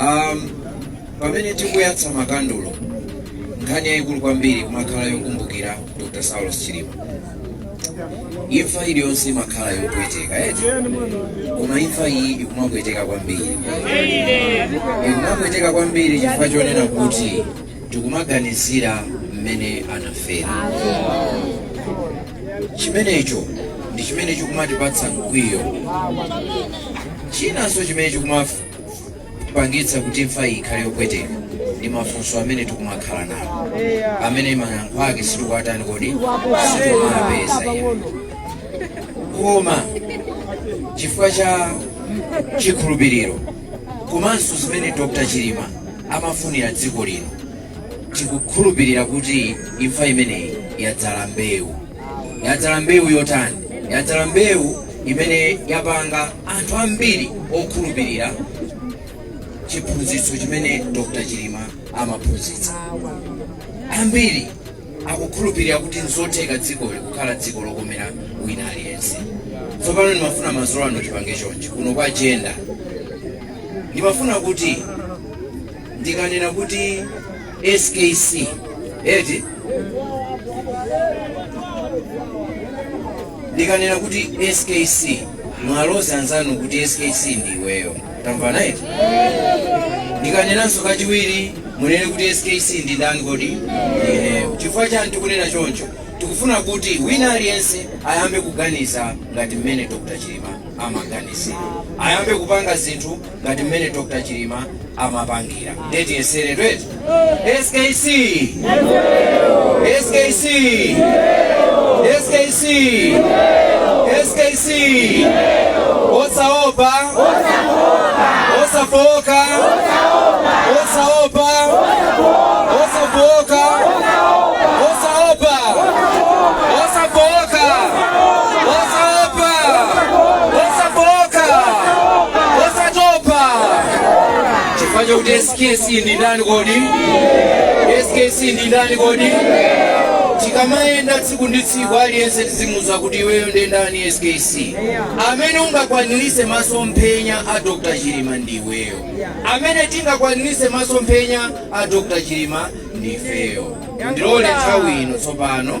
Um, pamene tikuyatsa makandulo nkhani yayikulu kwambiri ikumakhala yokumbukira dr saulos chilima imfa iliyonse imakhala yopweteka eti koma imfa iyi ikumapweteka kwambiri ikumapweteka kwambiri chifukwa chonena kuti tikumaganizira mmene anafera chimenecho ndi chimene chikumatipatsa mkwiyo chinanso chimene chikuma- pangitsa kuti imfa iyi ikhale yopweteka ndi mafunso amene tikumakhala nawo amene mayankho ake sitikuwatani kodi sitikuwapeza eya koma chifukwa cha chikhulupiriro komanso zimene dr chilima amafunira dziko lino tikukhulupirira kuti imfa imeneyi yadzala mbewu yadzala mbewu yotani yadzala mbewu imene yapanga anthu ambiri okhulupirira chiphunzitso chimene dr chilima amaphunzitsa ambiri akukhulupirira kuti nzotheka dzikoli kukhala dziko lokomera wina aliyense tsopano ndimafuna madzulo ano tipange chonchi kuno kwa jenda ndimafuna kuti ndikanena kuti skc eti ndikanena kuti skc muwaloze anzanu kuti skc ndi iweyo tamvana eti ndikanenanso kachiwiri munene kuti skc ndi ndani kodi ineyo chifukwa chani tikunena choncho tikufuna kuti wina aliyense ayambe kuganiza ngati mmene dr chilima amaganizira ayambe kupanga zinthu ngati mmene Dr. Chilima amapangira nde tiyesere tu eti SKC SKC SKC SKC osaopa osafooka osaopa osafooka osaopa osafooka osatopa chifukwa chakuti skc ndi ndani kodi skc ndi ndani kodi tikamayenda tsiku ndi tsiku aliyense tizimuuza kuti iweyo ndi ndani skc amene ungakwanirise masomphenya a dr chilima ndi iweyo amene tingakwanirise masomphenya a dr chilima ndi ifeyo ndilole nthawi ino tsopano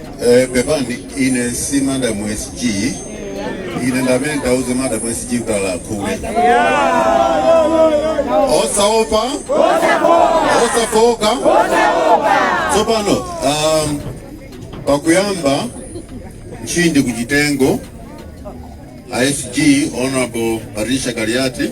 Eh, pepani ine si madam SG ine ndi amene ndiwauze madam SG kuti alakhule osaopa osafooka tsopano um, pakuyamba nchindi kuchitengo asg honorable patricia kaliati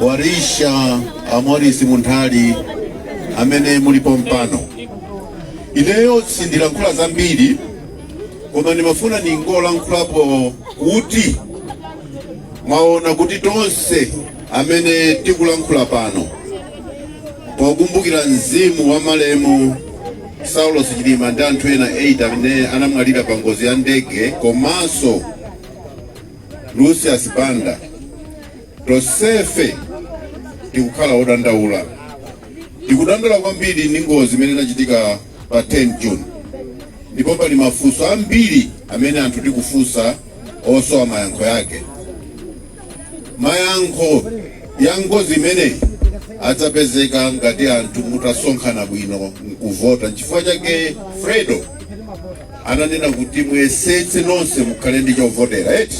walisha a morris munthali amene muli pompano ineyo sindilankhula zambiri koma ndimafuna ningolankhulapo kuti mwaona kuti tonse amene tikulankhula pano pokumbukira mzimu wa malemu saulos chilima ndi anthu ena 8 amene anamwalira pa ngozi ya ndege komanso lucius banda tonsefe tikukhala odandaula tikudandaula kwambiri ndi ngozi imene inachitika pa 10 june ndipo pali mafunso ambiri amene anthu tikufunsa osowa mayankho yake mayankho ya ngozi imeneyi adzapezeka ngati anthu mutasonkhana bwino nkuvota nchifukwa chake fredo ananena kuti muyesetse nonse mukhale ndi chovotera eti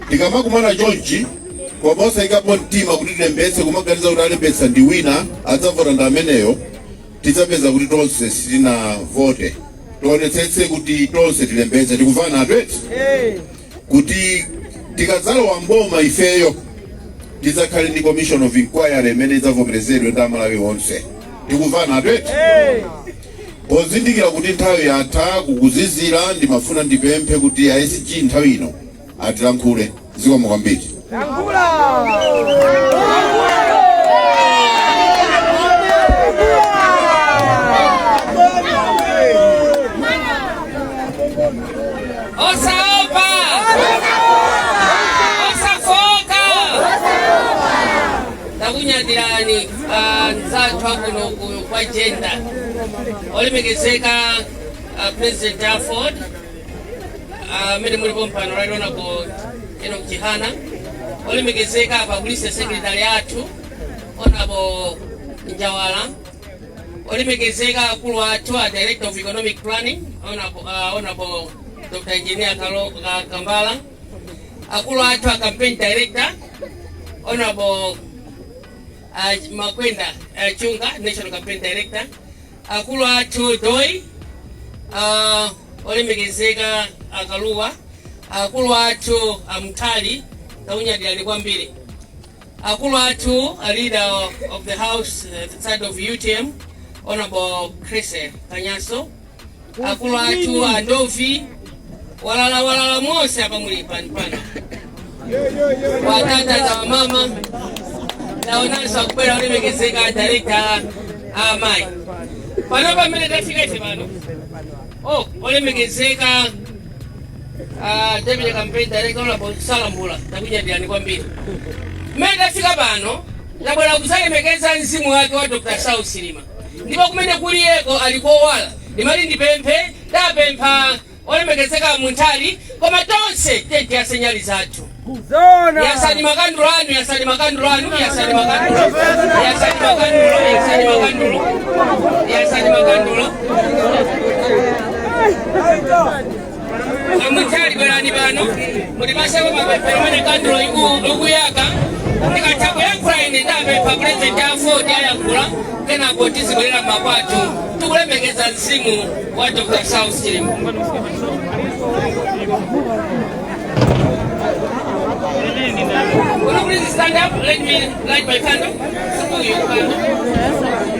tikamakumana chonchi koma osaikapo mtima kuti tilembetse kumaganiza kuti alembetsa ndi wina adzavota ndi ameneyo tidzapeza kuti tonse sitinavote tionetsetse kuti tonse tilembetse tikumvana eti kuti tikadzalowa mboma ifeyo tidzakhale ndi commission of inquiry imene idzavomerezedwe ndi amalawi onse tikumvana eti Pozindikira kuti nthawi yatha, kukuzizira, ndimafuna ndipemphe kuti a SG nthawi ino atilankhule. Zikomo kwambiri. Osaopa! Osafoka! takunyadirani anzathu akuno ku- kwa jenda olemekezeka ah, president aford amene muli pompano right honorable enoch chihana olemekezeka a publicity secretary athu honorable njawala olemekezeka akulu athu a director of economic planning honorable ah, honorable dr engineer Kalo- Ka- kambala akulu athu a campaign director honorable uh, makwenda uh, chunga national campaign director akulu athu doi uh, olemekezeka akaluwa akulu athu a mtali takunyadirani kwambiri akulu athu a leader of the house uh, the side of utm honorable chris kanyaso akulu athu a ndovi walala walala mose apa muli pano pano watata na wamama naonanso akubwera olemekezeka director a amayi pano pamene tafika ife pano oh olemekezeka ah, deputy campaign director honorable salambula takunyadirani kwambiri mmene tafika pano tabwera kuzalemekeza mzimu wake wa dr saulos chilima ndipo kumene kuli iyeko ali kowala ndimati ndipemphe tapempha olemekezeka munthali koma tonse tiyeni tiyase nyali zathu yasani makandulo anu yasani makandulo anu yasani makandulo yasani makandulo yasani makandulo yasani makandulo a munthali bwerani pano mutipaseko mapemphero pamene kandulo iku- ikuyaka ndikatha kuyankhula ine ndapempha pulezidenti aford ayankhula kenako tizibwerera makwathu tikulemekeza mzimu wa dr saulos chilima Will you please stand up? Let me light my candle. Hold your candle.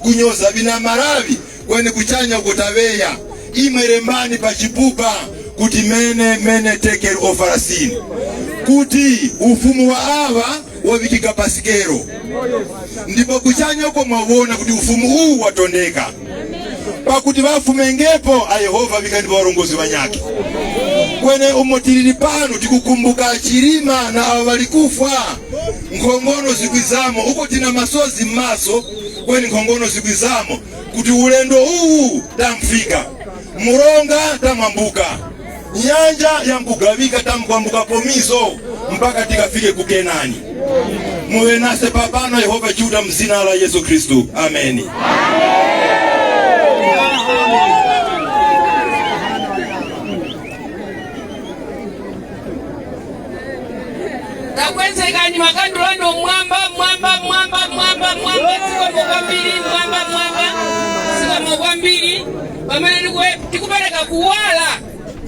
kunyoza bina malawi kweni kuchanya uko tabeya imwe lembani pa chipupa kuti mene mene tekel ofarasini kuti ufumu wa awa wavikika pa sikelo ndipo kuchanya uko mwawona kuti ufumu uwu watondeka pakuti vafumengepo a yehova vikanipo varongozi vanyake kweni umo tilili pano tikukumbuka chilima na ava valikufwa nkhongono zikwizamo uko tina masozi m'maso kweni nkhongono zikwizamo kuti ulendo uwu tamfika muronga tamwambuka nyanja yamkugavika tamkwambuka pomizo mpaka tikafike ku kenani muwe nase papano yehova chiuta mzina la yesu khristu ameni takwezekani makandulo anu mwamba mwamba mwamba mwamba mwamba zikomo kwambiri mwamba mwamba zikomo kwambiri pamene tikue- tikupereka kuwala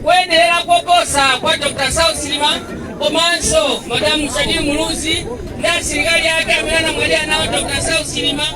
kuyenderera koposa kwa dr saulos chilima komanso madamu shanil muluzi ndi asilikali ake amene anamwalira nawo dr saulos chilima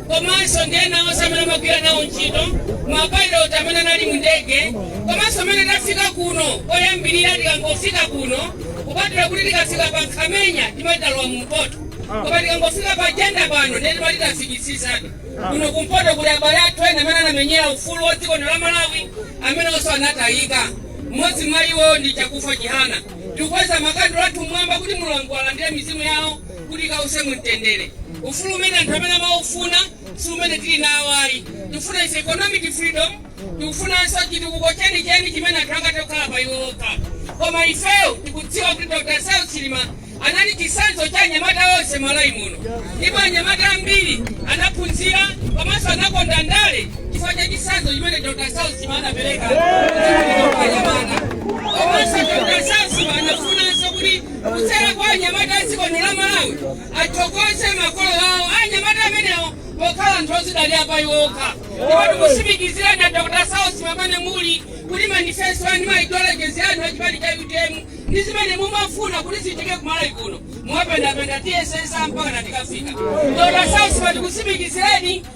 komanso ndi ena onse amene amagwira nawo ntchito mapayiloti amene anali mu ndege komanso mmene tafika kuno koyambirira tikangofika kuno kupatula kuti tikafika pa nkhamenya timatalowa mu mpoto koma tikangofika pa jenda pano ndiye timati tafikisisatu kuno kumpoto kuli abale athu ena amene anamenyera ufulu wa dziko la malawi amenenso anatayika mmodzi mwa iwo ndi chakufa chihana tikukweza makandulo athu mmwamba kuti mulungu alandire mizimu yawo kuti ikause mumtendere ufulu umene anthu amene amaufuna si umene tili nawo ayi tikufuna ife economic freedom tikufunanso chitukuko chenicheni chimene anthu angathe kukhala pa iwo okha koma ifeyo tikudziwa kuti dr saulos chilima anali chitsanzo cha anyamata onse malawi muno ndipo anyamata ambiri anaphunzira komanso anakonda ndale chifukwa cha chitsanzo chimene dr saulos anapereka anyamata komanso dr saulos chilima anafunanso kuti kudzera kwa anyamata a dziko lino la malawi athokoze makolo awo anyamata amenewo pokhala anthu ozidalira pa iwo okha ndipo tikutsimikizirani dr saulos chilima pamene muli kuti manifesto anu maideologies anu achipani cha utm ndi zimene mumafuna kuti zichitike ku malawi kuno mwapendapenda tss mpakana tikafika dr saulos chilima tikutsimikizireni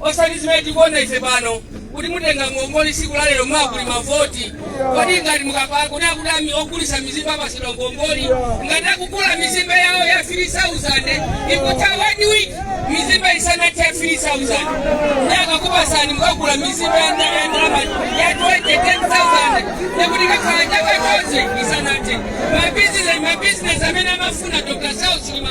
osati zimene tikuona ife pano kuti mutenga ngongole tsiku la lero mwakuli mavoti kodi ngati mukapanga kuti akuti amayi ogulitsa mizimbe apatsidwa ngongole ngati akugula mizimbe yawo ya 3000 ikutha one week mizimbe isanathe 3000 nde akakupatsani mukagula mizimbe ya ndala ya ndalama ya 20000 nekuti kakhala chaka chonse isanathe mabizinesi mabizinesi amene amafuna dr saulos chilima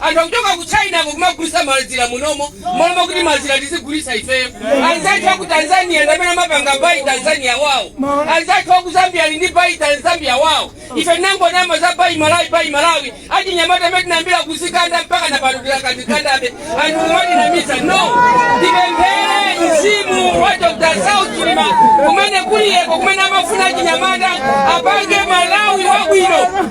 Anthu akuchoka ku Chinako kumagulitsa mazira munomo mmalo mokuti mazira tizigulitsa ifeyo. Anzathu aku Tanzania ndamene amapanga buy Tanzania wawo. Anzathu aku Zambia ali ndi buy Zambia wawo. Ife tinangonama za buy Malawi buy Malawi. Achinyamata mmene tinayambira kuzikanda mpakana pano tidakazikandabe. Anthu kumatinamiza no. Ndipemphere mzimu wa Dr. Saulos Chilima kumene kuliyeko kumene amafuna achinyamata apange Malawi wabwino.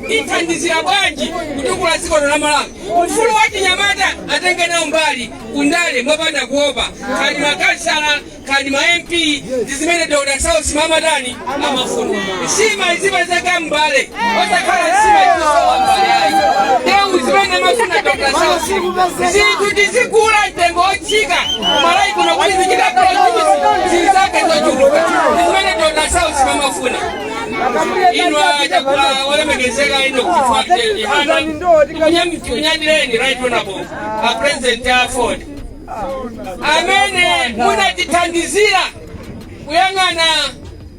ithandizira bwanji kutukula dziko la Malawi. Ufulu wa achinyamata atenge nawo mbali kundale mopanda kuopa kaya ndi makansala kaya ndi ma MP ndi zimene Dr. Saulos Chilima amatani amafuna. Nsima izipezeka mumbale osakhala nsima ikusowa m'mbale ayi. Nde zimene amafuna Dr. Saulos Chilima zinthu tizigula mtengo wotsika ku Malawi kuno kuti zichita produce zizake zochuluka ndi zimene Dr. Saulos Chilima amafuna. inu olemekezeka enock chihana tikunyadireni right honorable a president a aford amene munatithandizira kuyang'ana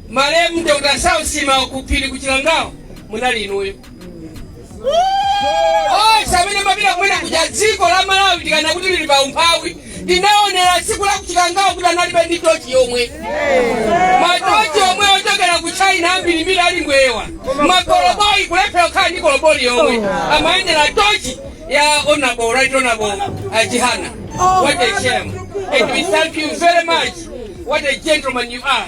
malemu dr saulos chilima kuphiri ku chikangawa munali inuyo onse amene amapita kumene kuja dziko la malawi tikanena kuti lili pa umphawi ndinaonera tsiku la ku chikangawa kuti analibe ndi tochi yomwe matochi omwe ochokera ku china ambirimbiri ali mbwewa makoloboyi kulephera kukhala ndi koloboyi yomwe amayendera tochi ya honorable right honorable a chihana what a shame and we thank you very much what a gentleman you are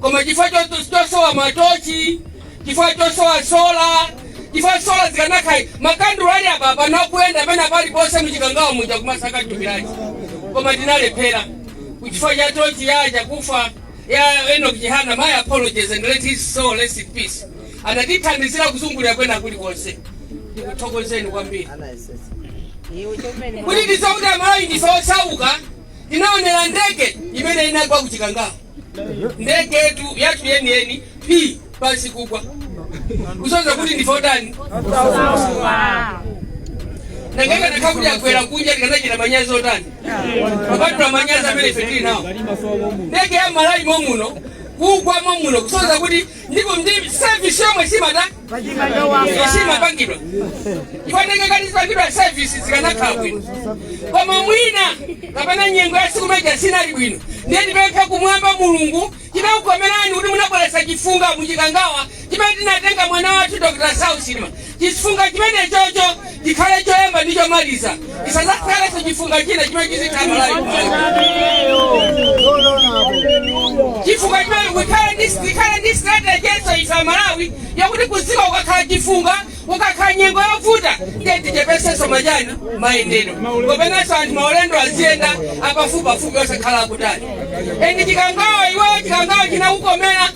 koma chifukwa cho- chosowa matochi chifukwa chosowa sola chifukwa sola zikanakhala makandulo ali apa panakuyenda pena paliponse muchikangawa muja kumasaka thupi lache koma tinalephera kuchifukwa cha tochi ya chakufwa ya enoch chihana my apologies and let his soul rest in peace anatithandizira kuzungulira kwina kulikonse ndikuthokozeni kwambiri kuti tisakuti amalawi ndife osauka ndinaonera ndege imene inagwa ku chikangawa ndege yathu yeniyeni phi pansi kugwa kusonyeza kuti ndife otani nanga ikanakhala kuti yagwera kunja tikanachita manyazi otani kupatula manyazi amene ife tili nawo ndege ya malawi momuno kugwa momuno kusonyeza kuti ndipo ndi sevisi yomwe siimatani siimapangidwa chifukwa ndege ikati izipangidwa service zikanakhala bwino koma mwina kapena nyengo ya tsiku limenelija sinali bwino ndiye tipemphe kumwamba mulungu chinakukomerani kuti munabweretsa chifunga muchikangawa chimene chinatenga mwana wathu dr saulos chilima chifunga chimenechocho Chikhale choyamba ndi chomaliza. Chisadzakhalenso chifunga china chimene chizitha Malawi kumene. Chifunga chimene kukhale ndi tikhale ndi strategy yenso ife aMalawi yakuti kudziko kukakhala chifunga kukakhala nyengo yovuta ndiye tichepetsenso machani mayendedwe kapenanso anthu maulendo aziyenda apafupipafupi osakhala akutali. Endi chikangawa iweyo chikangawa chinakukomera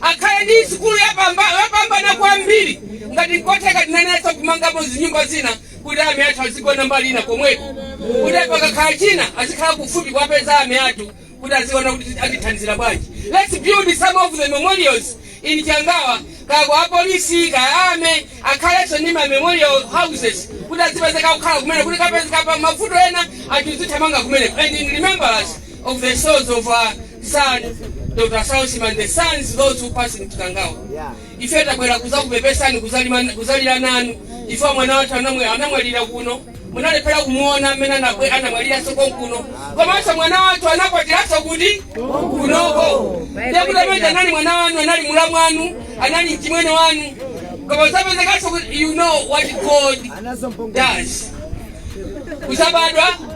akhale ndi sukulu yopambana kwambiri. Ngati n'kotheka, tinenetsa kumangapo zinyumba zina kuti army athu azigona mbali ina komweko kuti pakakhala china azikhala kufupi kuwapeza army athu kuti aziona kuti atithandizira bwanji. Let's build some of the memorials in Chikangawa kaya kwa apolisi kaya army akhalenso ndi ma memorial houses kuti azipezeka kukhala kumeneko kuti kukapezeka pa mavuto ena anthu azithamanga kumeneko and in remembrance of the souls of our Son, Dr. Saulos Chilima and the souls those who passed in Chikangawa. Ife tabwera kuzakupepesani kuzalima- kuzalira nanu ife mwana wathu anamwe- anamwalira kuno munalephera kumuona amene anabwe- anamwaliranso konkuno komanso mwana wathu anakwatiranso kuti kunoko ndekuti amene uja anali mwana wanu anali mulamu wanu anali mchimwene wanu koma zapezekanso kuti you know what god does usabadwa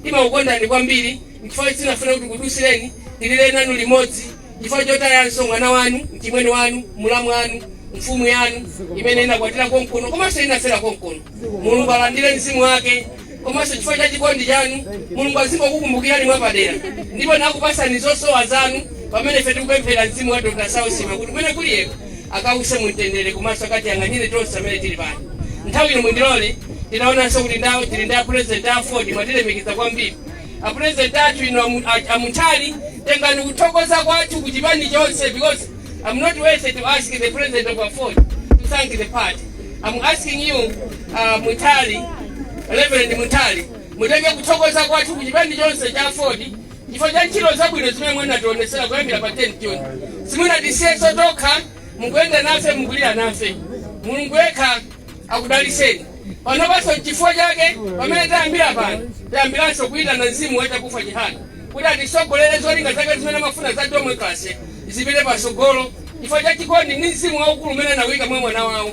Ndimakukondani kwambiri nchifukwa ichi sinafune kuti nkudutsireni ndilire nanu limodzi chifukwa chotayanso mwana wanu, mchimwene wanu, mulamu wanu, mfumu yanu imene inakwatira konkuno komanso inafera konkuno. Mulungu alandire mzimu wake komanso chifukwa cha chikondi chanu Mulungu azingokukumbukirani mwapadera ndipo nakupatsani zosowa zanu pamene ife tikupemphera mzimu wa Dr. Saulos Chilima kuti kumene kuli iyeko akause mu mtendere komanso akatiyang'anire tonse amene tili pano nthawi ino mundilole tinaonanso kuti ndawo tili ndi apurezidenti a aford mwatilemekeza kwambiri apurezidenti athu inu amu- a- amunthali tengani kuthokoza kwathu ku chipani chonse because i'm not worthy to ask the president of aford to thank the party i'm asking you uh, munthali reverend munthali mutenge kuthokoza kwathu ku chipani chonse cha aford chifukwa cha ntchito zabwino zimene munatiwonetsera kuyambira pa 10 june simunatisiyeso tokha mukuyenda nafe mukulira nafe mulungu yekha akudaliseni panopanso chifukwa chake pamene tayambira pano tayambiranso kuyitana mzimu wa chakufwa chihana kuti atisogolere zolinga zake zimene amafuna za democracy zipite pasogolo chifukwa cha chikondi ndi mzimu waukulu umene anawuyika mwa mwana wawo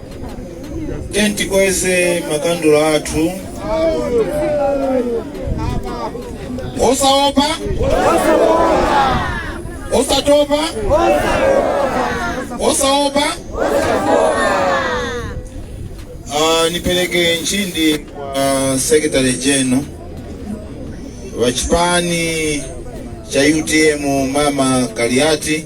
Tiyeni tikweze makandulo athu osaopa osatopa osaopa Ah, nipereke nchindi kwa secretary general wa chipani cha utm mama kaliati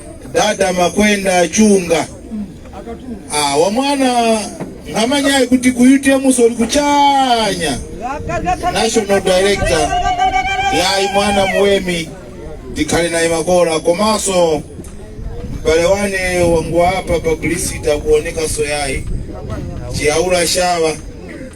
dada makwenda chunga ah, wamwana ngamanyayi kuti ku utm so uli kuchanya national director yayi mwana muwemi tikhale naye makola komanso mbale wane wangu apa publicity akuoneka so yayi chiyaula shawa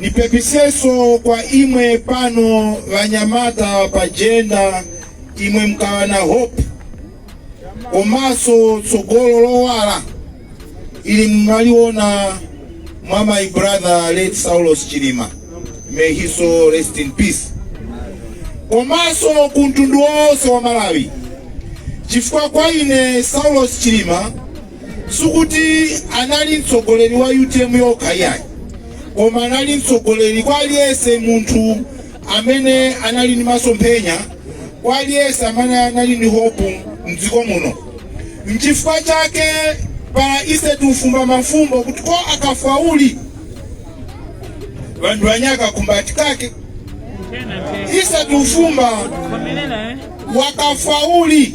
Nipepiseso kwa imwe pano vanyamata pa jenda imwe mukawa na hope komaso tsogolo lowala ili mumaliona mwa my brother late Saulos Chilima may his soul rest in peace komaso ku mtundu wonse wa Malawi chifukwa kwa ine Saulos Chilima sikuti anali mtsogoleri wa utm yokha iyayi koma anali mtsogoleri kwa aliyense munthu amene anali ndi masomphenya kwa aliyense amene anali ndi hope mdziko muno nchifukwa chake para ise tufumba mafumbo kuti ko akafwa uli vanthu vanye akakumbati kake ise tufumba wakafwa uli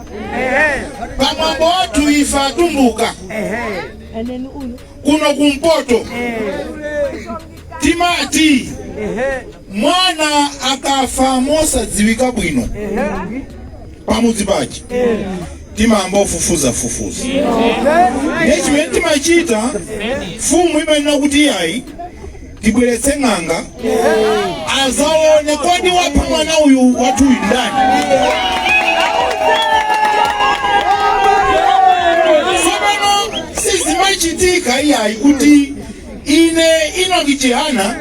pamwambo wathu ife atumbuka kuno kumpoto timati mwana akafa mosadziwika bwino pamudzi pache timayamba kufufuza fufuza ndiye chimene timachita mfumu imanena kuti iyayi tibweretse ng'anga azaone kodi wapha mwana uyu wathu uyu ndani tsopano sizimachitika iyayi kuti ine inoki chihana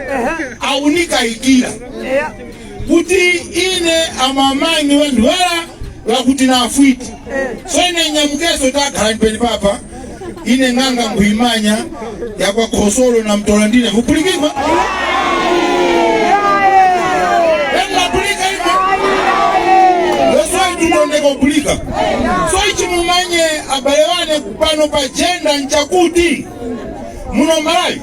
aunikayikira kuti ine amamayi ndiwe ndwala lakuti na afwiti so ine nyamukeso takhala mpeni papa ine ng'anga nkhuyimanya yakwa khosolo na mtola ndine vupulikirwa elapulikalima loswaitundondekopulika so ichi mumanye abale wane pano pa jenda nchakuti muno malawi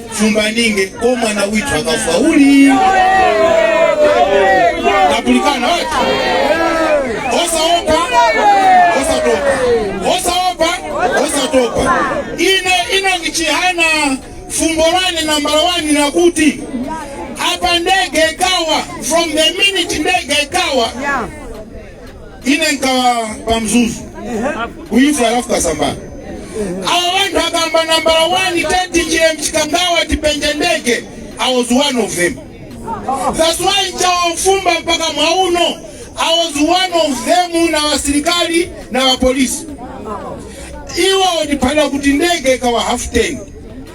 chumbaninge ko mwana withu akafa uli tapulikana wati osaopa osatopa osaopa osatopa ine ino ngichihana fumbo lane nambala wani nakuti apa ndege ikawa from the minute ndege ikawa ine nkhawa pa mzuzu kuifa a ralph kasambara awo wanthu akamba nambala 1 teti chilem mchikangawa tipenje ndege i was one of them that's why nchawo fumba mpaka mwauno i was one of them na wasilikali na wapolisi iwo waliphala kuti ndege ikawa half ten